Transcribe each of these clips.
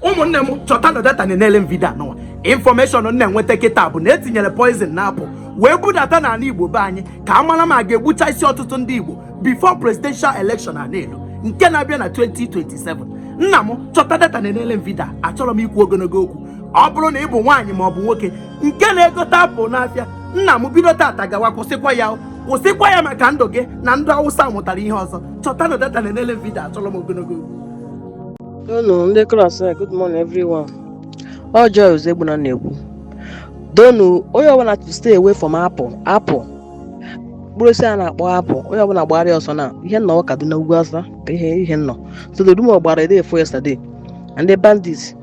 ụmụnne m chọtanụ data na-enele m vidio a nụnwa information m na-enweta kịta bụ na e tinyere poison na apple wee budata n'ala igbo be anyị ka a mara ma a ga-egbucha isi ọtụtụ ndị igbo before presidential election a na-elu nke na-abịa na 2027 nna m chọta data na-enele m vidio achọrọ m ikwu ogologo okwu ọ bụrụ na ị bụ nwaanyị ma ọ bụ nwoke nke na-egote apple n'afịa nna m bido tata gawa kwụsịkwa ya kwụsịkwa ya maka ndụ gị na ndụ ụmụaza ị mụtara ihe ọzọ chọtanụ data na-enele m vidio achọrọ m ogologo okwu Donu ndị klas a good morning everyone. Ọ Joy Ozegbuna na-ekwu. Donu onye ọbụla to stay away from apple apple. Mkpụrụ osisi a na-akpọ apple onye ọbụla gbara ya ọsọ na ihe m nọ Kaduna ugwu Awụsa ka ihe ihe m nọ. So the rumor gbara day before yesterday na ndị bandits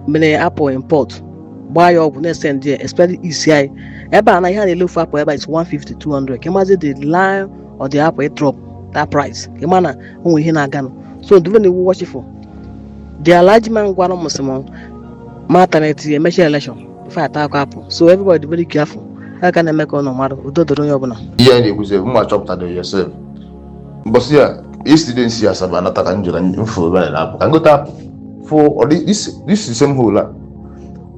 mere apple import gbaa ya ọgwụ na-esend ya especially East anyị ebe a na ihe a na-ele ofu apple ebe a is 150 200 ka ị mazi the line of the apple drop that price ka ị ma na o nwere ihe na-aganụ so ndụrụ na iwu watchful the alhaji man gwara m sị m ma taneti ya emechi election ife ata akụ apple so everybody dị very careful ha ka na-eme ka ụlọ mmadụ udo doro onye ọbụla ihe anyị na-ekwuzi bụ mma chọpụtara yourself mbọsị yesterday m si asaba anata ka m jụra m fụ ebe a na-apụ ka m gota apple fụ this is the same hole a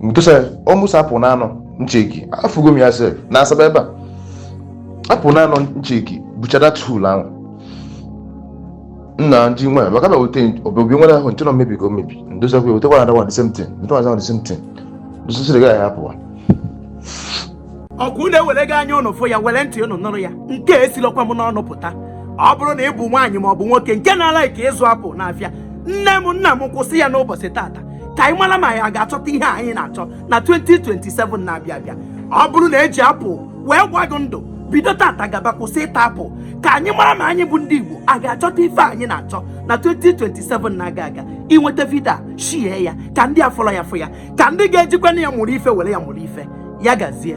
because almost apple na anọ m check afụgo m ya sef na asaba ebe a apple na anọ m check buchara hole ahụ nna ndị nwaanyị maka na wete obobi nwa ahụ nchọrọ mmebi ka o mebi ndozakwa wete another one the same thing ndị nwaanyị the same thing ndozasịrị gaghị apụwa ọkwa ụnụ ewerego anya ụnụ fụ ya were ntị ụnụ nụrụ ya nke esilọkwa m n'ọnụ pụta ọ bụrụ na ị bụ nwaanyị ma ọ bụ nwoke nke na-alike ịzụ apple n'afịa nne m nna m kwụsị ya n'ụbọchị tata ka anyị mara ma anyị ga-achọta ihe a anyị na-achọ na 2027 na-abịa abịa ọ bụrụ na e ji apple wee gwa gị ndụ bido tata gaba kwụsị ịta apple ka anyị mara ma anyị bụ ndị Igbo a ga-achọta ife anyị na-achọ na 2027 na-aga aga i nweta vidio a share ya ka ndị afụrọ ya fụ ya ka ndị ga-ejikwanụ ya mụrụ ife were ya mụrụ ife ya gazie